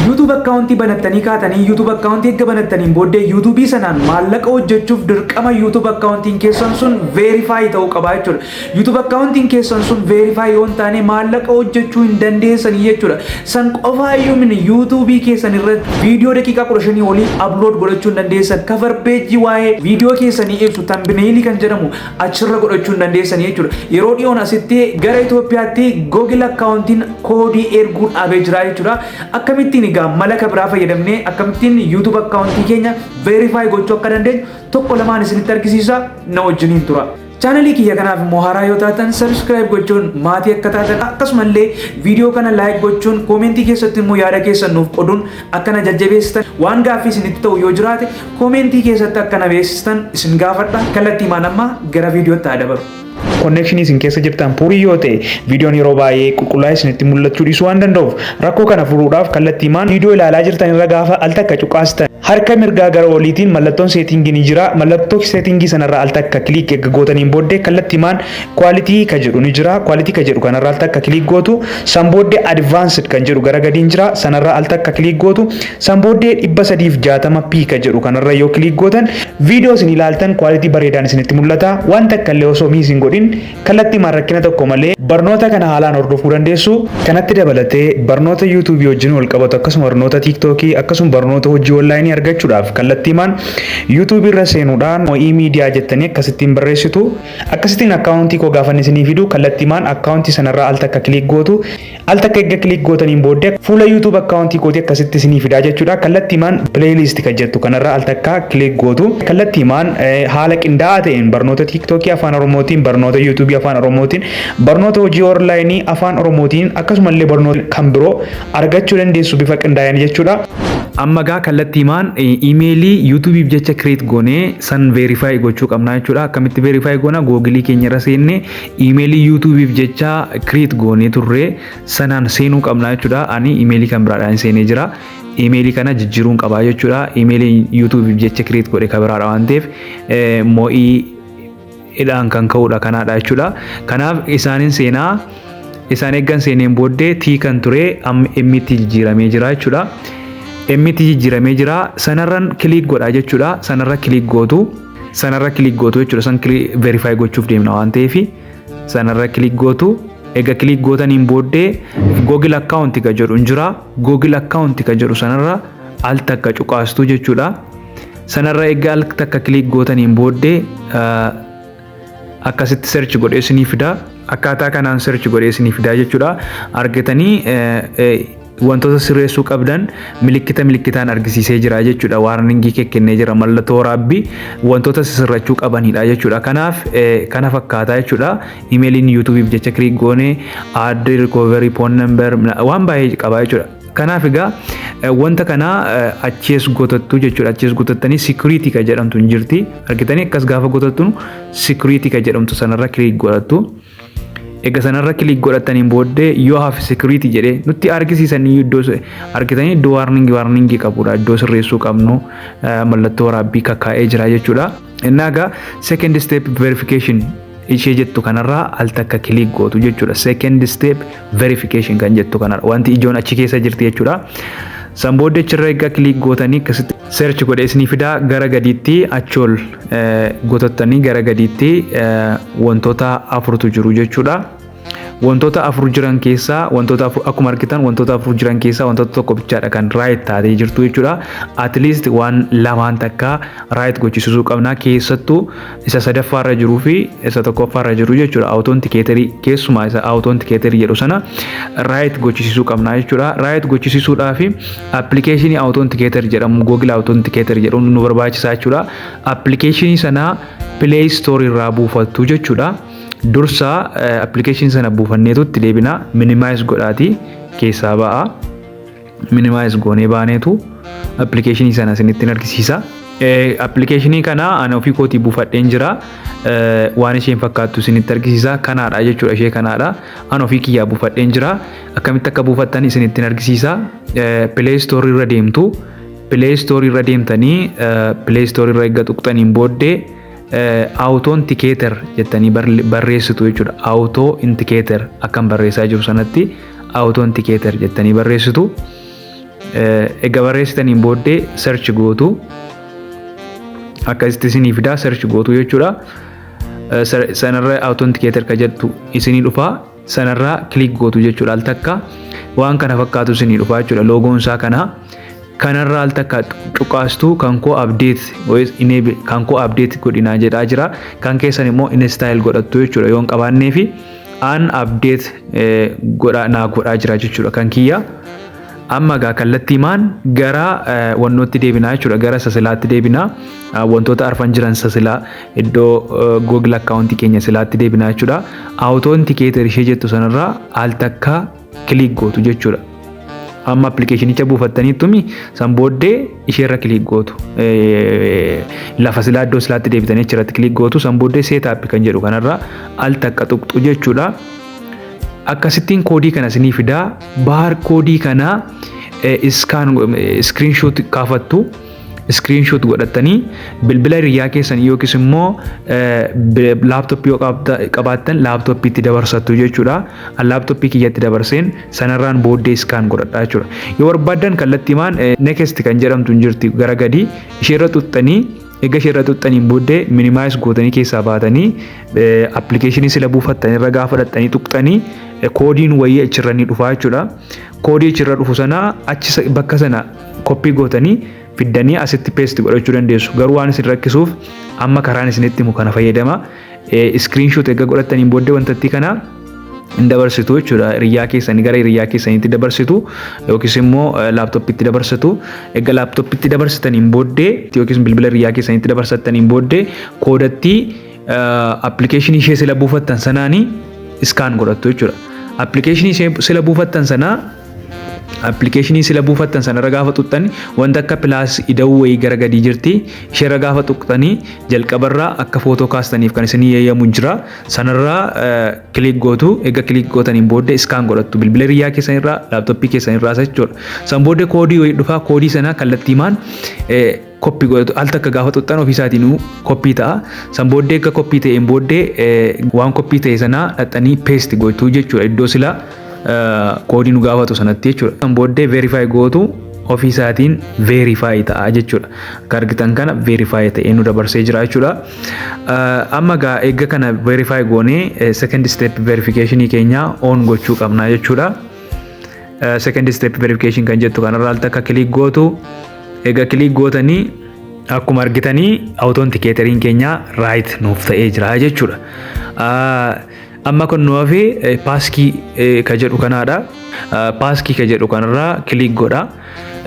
YouTube account banattanii kaatanii YouTube account erga banattaniin booddee YouTube sanaan maallaqa hojjechuuf dirqama YouTube account keessan sun verify ta'uu qaba jechuudha. YouTube account keessan sun verify yoo hin taane maallaqa hojjechuu hin dandeessanii jechuudha. San qofaa iyyuu mini YouTube keessan irratti viidiyoo daqiiqaa 15 olii upload godhachuu hin dandeessan. Cover page waa'ee viidiyoo keessanii ibsu thumbnail kan jedhamu achirra godhachuu hin dandeessanii jechuudha. Yeroo dhiyoon asitti gara Itoophiyaatti Google akkaawuntiin koodii erguu dhaabee jira jechuudha. Akkamittiin egaa malaka biraa fayyadamnee akkamittiin YouTube akkaawuntii keenya verify gochuu akka dandeenyu tokko lamaan isinitti argisiisa na wajjiniin tura. Chaanalii kiyya kanaaf immoo haaraa yoo taatan subscribe gochuun maatii akka taatan akkasumallee viidiyoo kana like gochuun koomentii keessatti immoo yaada keessan nuuf qoduun Akka na jajjabeessitan waan gaaffii isinitti ta'u yoo jiraate koomeentii keessatti akka na beeksistan isin gaafadha. Kallattii maan ammaa gara viidiyootti haa dabaru. Konnekshinii isin keessa jirtan puurii yoo ta'e viidiyoon yeroo baay'ee qulqullaa'ee isinitti mul'achuu dhiisuu waan danda'uuf rakkoo kana furuudhaaf kallattii maan viidiyoo ilaalaa jirtan irra gaafa al takka cuqaastan harka mirgaa gara oliitiin mallattoon seetingii ni jira mallattoo seetingii sanarra al takka kiliik eegga gootaniin booddee kallattii maan Quality ka jedhu ni jira. Quality ka jedhu kanarra al takka click gootu. San booddee advanced kan jedhu gara gadiin jira. Sanarra al takka click gootu. San booddee 360p ka jedhu kanarra yoo click gootan video isin ilaaltan quality bareedaan isinitti mul'ata. Waan takka illee osoo miss hin godhin kallattiimaan rakkina tokko malee barnoota kana haalaan hordofuu dandeessu. Kanatti dabalatee barnoota YouTube wajjin wal qabatu akkasuma barnoota TikTok akkasuma barnoota hojii online argachuudhaaf kallattiimaan YouTube irra seenuudhaan OE Media jettanii akkasittiin barreessitu. Akkasitiin account koo gaafan isinii fidu kallattiimaan account sanarraa al takka click gootu. Al takka erga click gootaniin booddee fuula YouTube account kootii akkasitti isinii fidaa jechuudha. Kallattiimaan playlist kan jettu kanarraa al takka click gootu. Kallattiimaan haala qindaa'aa ta'een barnoota TikTokii afaan Oromootiin, barnoota YouTube afaan Oromootiin, barnoota hojii online afaan Oromootiin akkasumallee barnoota kan biroo argachuu dandeessu bifa qindaa'een jechuudha. Amma egaa kallattiimaan imeelii yuutuubiif jecha kireet goone san veerifaayi gochuu qabna jechuudha. Akkamitti veerifaayi goona googilii keenya irra seenne imeelii yuutuubiif jecha kireet goone turre sanaan seenuu qabna jechuudha. Ani imeelii kan biraadhaan seenee jira. Imeelii kana jijjiiruun qabaa jechuudha. Imeelii yuutuubiif jecha kireet godhe kan biraadha waan ta'eef moo'ii hidhaan kan ka'udha kanaadha jechuudha. Kanaaf isaanin seenaa isaan eeggan seeneen booddee tii kan ture amma emmitti jijjiiramee jira jechuudha. Emmitti jijjiiramee jira sanarran kiliik godha jechuudha. Sanarra kiliik gootu sanarra kiliik gootu jechuudha. San verify gochuuf deemna waan ta'eef sanarra kiliik gootu. Egaa kiliik gootaniin booddee Google account ka jedhu hin jira. Google account ka jedhu sanarra al takka cuqaastu jechuudha. Sanarra egaa al takka kiliik gootaniin booddee akkasitti search godhee isinii fidaa. Akkaataa kanaan search godhee isinii fidaa jechuudha. Argitanii wantoota sirreessuu qabdan milikkita milikkitaan argisiisee jira jechuudha. Waarningii kekkennee jira mallattoo waraabbii wantoota sirrachuu qabanidha jechuudha. Kanaaf kana fakkaata jechuudha. Imeeliin yuutuubiif jecha kiliik goone aadde rikooverii poon nambar waan baay'ee qaba jechuudha. Kanaaf egaa wanta kana achees gotattu jechuudha. Achees gotattanii security kan jedhamtu hin jirti. Argitanii akkas gaafa gotattu security kan jedhamtu sanarra click godhattu. Egaa sanarra click godhattaniin booddee yoo hafe security jedhee nutti argisiisan iddoo argitanii iddoo warning warning qabudha. Iddoo sirreessuu qabnu mallattoo waraabbii kakkaa'ee jira jechuudha. Innaa egaa second step verification ishee jettu kanarraa al takka kiliik gootu jechuudha. Second step verification kan jettu kanarra wanti ijoon achi keessa jirti jechuudha. San booddee achirra egaa kiliik gootanii akkasitti search godhee isinii fidaa gara gadiitti achool gotottanii gara gadiitti wantoota afurtu jiru jechuudha. Wantoota afur jiran keessaa wantoota afur akkuma argitan wantoota afur jiran keessaa wantoota tokko bichaadha kan raayit taatee jirtu jechuudha. At least waan lamaan takka raayit gochisiisuu qabna keessattuu isa sadaffaa irra jiruu fi isa tokkoffaa irra jiru jechuudha. Awutoon tikeetarii keessumaa isa awutoon tikeetarii jedhu sana raayit gochisiisuu qabna jechuudha. Raayit gochisiisuudhaa fi appilikeeshinii awutoon tikeetar jedhamu googil awutoon tikeetar jedhu nu barbaachisaa jechuudha. Appilikeeshinii sana pileey istoorii irraa buufattu jechuudha. Dursa application sana buufanneetu itti deebina minimize godhaati keessaa ba'a. Minimize goonee baaneetu application sana isinitti hin argisiisa. Application kana ana ofii kootii buufadheen jira. Waan isheen fakkaattu isinitti argisiisa. Kanaadha jechuudha ishee kanaadha. Ana ofii kiyyaa buufadheen jira. Akkamitti akka buufattan isinitti hin argisiisa. Play Store irra deemtu. Play Store irra deemtanii Play Store irra eegga tuqxaniin booddee Awutoon tikeeter jettanii barreessitu jechuudha. Awutoo intikeeter akkan barreessaa jiru sanatti awutoo intikeeter jettanii barreessitu. Egaa barreessitaniin booddee search gootu. Akkasitti isinii fidaa search gootu jechuudha. Sanarra awutoo intikeeter ka jettu isinii dhufaa. sanarraa click gootu jechuudha al takka waan kana fakkaatu isinii dhufa jechuudha loogoon isaa kana kanarraa al takka cuqaastu kan koo update yookiis enable kan koo update godhinaa jedhaa jira kan keessan immoo install godhattu jechuudha yoon qabaannee fi an update godhaa naa godhaa jira jechuudha kan kiyya Amma egaa kallattii maan gara wannootti deebinaa jechuudha. Gara sasilaatti deebinaa. Wantoota arfan jiran sasilaa iddoo Google akkaawuntii keenya silaatti deebinaa jechuudha. Awutontikeeter ishee jettu sanarraa al takka kiliik gootu jechuudha. Amma appilikeeshinicha buufattaniittumi san booddee isheerra kiliik gootu. Lafa silaa iddoo silaatti deebitanii achirratti kiliik gootu san booddee seetaappi kan jedhu kanarraa al takka tuqxu jechuudha. Akkasittiin koodii kana sinii fidaa Baar koodii kana iskaan iskiriinshoot kaafattu iskiriinshoot godhattanii bilbila hiriyyaa keessan yookiis immoo laaptooppii yoo qabaattan laaptooppiitti dabarsattu jechuudha. An laaptooppii kiyyatti dabarseen sanarraan booddee iskaan godhadha jechuudha. Yoo barbaaddan kallattiimaan next kan jedhamtu hin jirti gara gadii isheerra xuxxanii Egaa ishee irra tuqxaniin booddee minimize gootanii keessaa baatanii appilikeeshinii sila buufattan irra gaafa dhaxxanii tuqxanii koodiin wayii achirra ni dhufaa jechuudha. Koodii achirra dhufu sana achi bakka sana koppii gootanii fiddanii asitti peesti godhachuu dandeessu. Garuu waan isin rakkisuuf amma karaan isinitti himu kana fayyadama. Screenshot erga godhattaniin booddee wantattii kana hin dabarsitu jechuudha. Hiriyaa keessan gara hiriyaa keessanitti dabarsitu yookiis immoo laaptooppitti dabarsitu. Erga laaptooppitti dabarsitaniin booddee yookiis bilbila hiriyaa keessanitti dabarsattaniin booddee koodattii appilikeeshinii ishee sila buufattan sanaanii iskaan godhattu jechuudha. Appilikeeshinii sila buufattan sanaa Appilikeeshinii sila buufattan sanarra gaafa tuqxan wanta akka pilaas ida'uu wayii gara gadii jirti. Isheerra gaafa tuqxanii jalqabarraa akka footoo kaastaniif kan isinii eeyyamu jira. Sanarraa kiliik gootu. Egaa kiliik gootaniin booddee iskaan godhattu. Bilbila hiriyyaa keessanirraa, laaptooppii keessanirraa jechuudha. San booddee koodii wayii dhufaa koodii sana kallattiimaan copy godhatu al takka gaafa xuxxan ofii isaatiinuu copy ta'a san booddee akka copy ta'een booddee waan copy ta'e sanaa dhaxxanii paste gochuu jechuudha iddoo silaa koodii nu gaafatu sanatti jechuudha san booddee verify gootu ofii isaatiin verify ta'a jechuudha akka argitan kana verify ta'ee nu dabarsee jira jechuudha amma gaa eegga kana verify goonee second step verification keenya on gochuu qabna jechuudha second step verification kan jettu kanarraa al takka click gootu Egaa kiliik gootanii akkuma argitanii awutontikeeteriin keenya raayit nuuf ta'ee jira jechuudha. Amma kan nu hafe paaskii ka jedhu kanaadha. Paaskii ka jedhu kanarraa kiliik godha.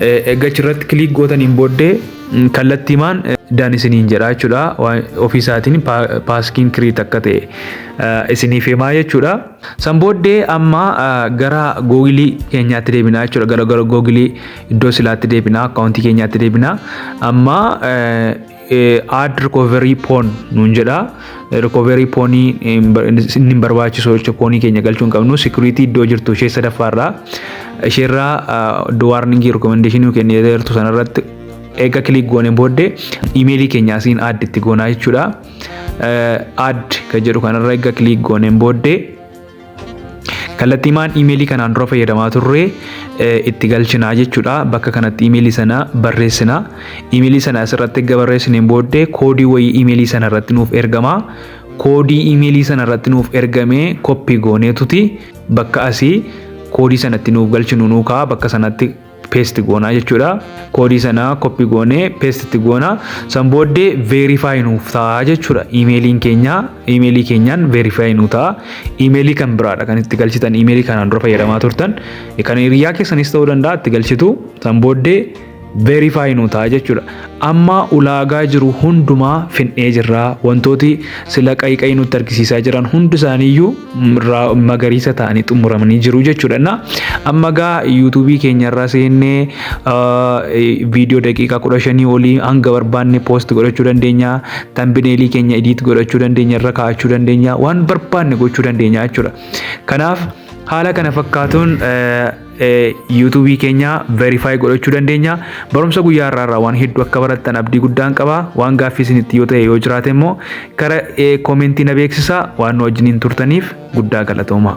Egaa achirratti kiliik gootaniin booddee kallattiimaan dan isiniin jedha jechuudha. Ofiisaatiin paaskiin kiriit akka ta'e isiniif himaa jechuudha. San booddee amma gara googilii keenyaatti deebinaa jechuudha. Gara googilii iddoo silaatti deebinaa akkaawuntii keenyaatti deebinaa amma aad rikooverii poon nuun jedha rikooverii poonii inni hin barbaachisu jechuudha poonii keenya galchuu hin qabnu sikiriitii iddoo jirtu ishee sadaffaarraa isheerraa waarningii rikoomendeeshinii nu kennee jirtu sanarratti eega kiliik goonee booddee imeelii keenya asiin aad itti goonaa jechuudha aad kan jedhu kanarra eega kiliik goonee booddee Kallattiimaan iimeelii kanaan dura fayyadamaa turre itti galchinaa jechuudha. Bakka kanatti iimeelii sana barreessina. Iimeelii sana asirratti erga barreessineen booddee koodii wayii iimeelii sana irratti nuuf ergama. Koodii iimeelii sana irratti nuuf ergame koppii gooneetuti bakka asii koodii sanatti nuuf galchinu nuukaa bakka sanatti paste goonaa jechuudha. Koodii sana copy goonee paste itti goona. San booddee verify nuuf ta'a jechuudha. Imeeliin keenya imeelii keenyaan verify nu ta'a. Imeelii kan biraadha kan itti galchitan imeelii kanaan dura fayyadamaa turtan. Kan hiriyaa keessanis ta'uu danda'a itti galchitu. San booddee verify nu ta'a jechuudha. Amma ulaagaa jiru hundumaa fixnee jirra. Wantooti sila qayiqayi nutti argisiisaa jiran hundi isaaniiyyuu ra- magariisa ta'anii xumuramanii jiru jechuudha. Na amma gaa yuutuubii keenya irra seennee ah, eh, viidiyoo daqiiqaa kudha shanii olii hanga barbaanne poost godhachuu dandeenya. Tambineelii keenya idiit godhachuu dandeenya, irra kaa'achuu dandeenya, waan barbaanne gochuu dandeenya jechuudha. Kanaaf haala kana fakkaatuun eh, yuutuubii keenya verify godhachuu dandeenya. Barumsa guyyaa irraa irraa waan hedduu akka barattan abdii guddaan qaba. Waan gaaffii isinitti yoo ta'e yoo jiraate immoo kara koomentii na beeksisa waan nu wajjiniin turtaniif guddaa galatoomaa.